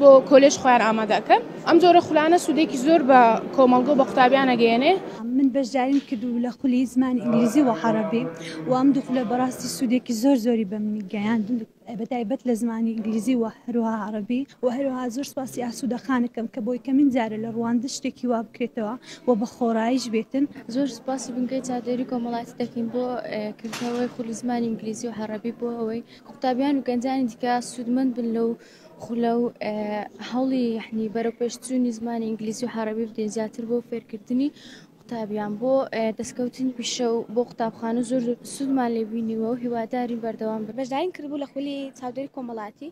بۆ کۆلێژ خۆیان ئامادە ئەکەن. ئەم جۆرە خولانە سوودێکی زۆر بە کۆمەڵگە و بە قوتابیان ئەگەیەنێ. من بەشداریم کردوو لە خولی زمانی ئینگلیزی و عەڕەبی و ئەم دوو خولە بەڕاستی سوودێکی زۆر زۆری بە منی گەیاند بە تایبەت لە زمانی ئینگلیزی و هەروەها عەڕەبی و هەروەها زۆر سپاسی ئاسوودە خانەکەم کە بۆ یەکەمین جارە لە ڕواندا شتێکی وا بکرێتەوە و بە خۆڕاییش بێتن. زۆر سپاسی بنکەی چادێری کۆمەڵایەتی دەکەین بۆ کردنەوەی خولی زمانی ئینگلیزی و عەڕەبی بۆ ئەوەی قوتابیان و گەنجانی دیکە سوودمەند بن لەو خولە و هەوڵی یەحنی بەرەوپێشچوونی زمانی ئینگلیزی و حەڕەبی بدەین زیاتر بۆ فێرکردنی قوتابیان بۆ دەستکەوتنی پیشە و بۆ قوتابخانە زۆر سوودمان لێبینیوە و هیواداری بەردەوام بەشداریم کردبوو لە خولی چاودێری کۆمەڵاتی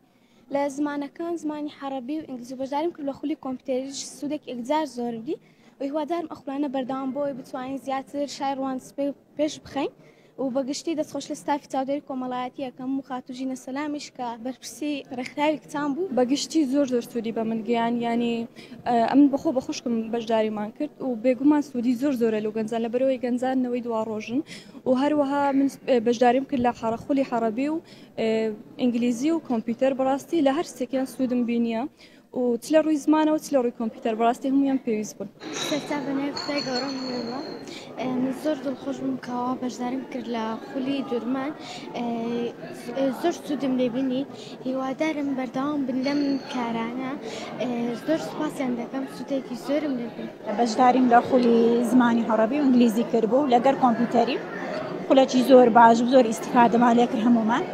لە زمانەکان زمانی حەڕەبی و ئینگلیزی بەشداریم کرد لە خولی کۆمپیوتەریش سوودێک ئەگزار زۆر دی و هیوادارم ئەخولانە بەردەوام بۆی بتوانین زیاتر شای ڕوانسپێ پێش بخەین و بە گشتی دەست خۆش لە ستافی چاودێری کۆمەڵایەتی ئەکەم و خاتوو ژینە سەلامیش کە بەرپرسی ڕێکخراوی کچان بوو بە گشتی زۆر زۆر سوودی بە من گەیاند یانی ئەمن بەخۆ بە خوشکم بەشداریمان کرد و بێگومان سوودی زۆر زۆرە لەو گەنجان لە بەرەوەی گەنجان نەوەی دوا ڕۆژن و هەروەها من بەشداریم کرد لە حەڕە خولی حەڕەبی و ئینگلیزی و کۆمپیوتەر بەڕاستی لە هەر سێکیان سوودم بینیە و چ لە ڕووی زمانەوە چ لە ڕووی کۆمپیوتەر بەڕاستی هەموویان پێویست بوون. سەرچاو بە ناوی خودای گەورەم وەڵڵا من زۆر دڵخۆش بووم کە وا بەشداریم کرد لە خولی دورمان زۆر سوودم لێ بینی هیوادارم بەردەوام بن لەم کارانە زۆر سوپاسیان دەکەم سوودێکی زۆرم لێ بینی. بەشداریم لە خولی زمانی هەڕەبی و ئینگلیزی کردبوو لەگەر کۆمپیوتەری خولەکی زۆر باش و زۆر ئیسیفادەمان لێ کرد هەمومان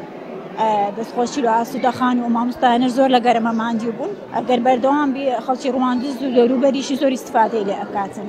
دەستخۆشی لە ئاسوودە خان و مامۆستایانە زۆر لە گەرمە ماندی بوون ئەگەر بەردەوام بی خەڵکی ڕواندز و دەوروبەریشی زۆر ئیسیفادەی لێ ئەکاتن.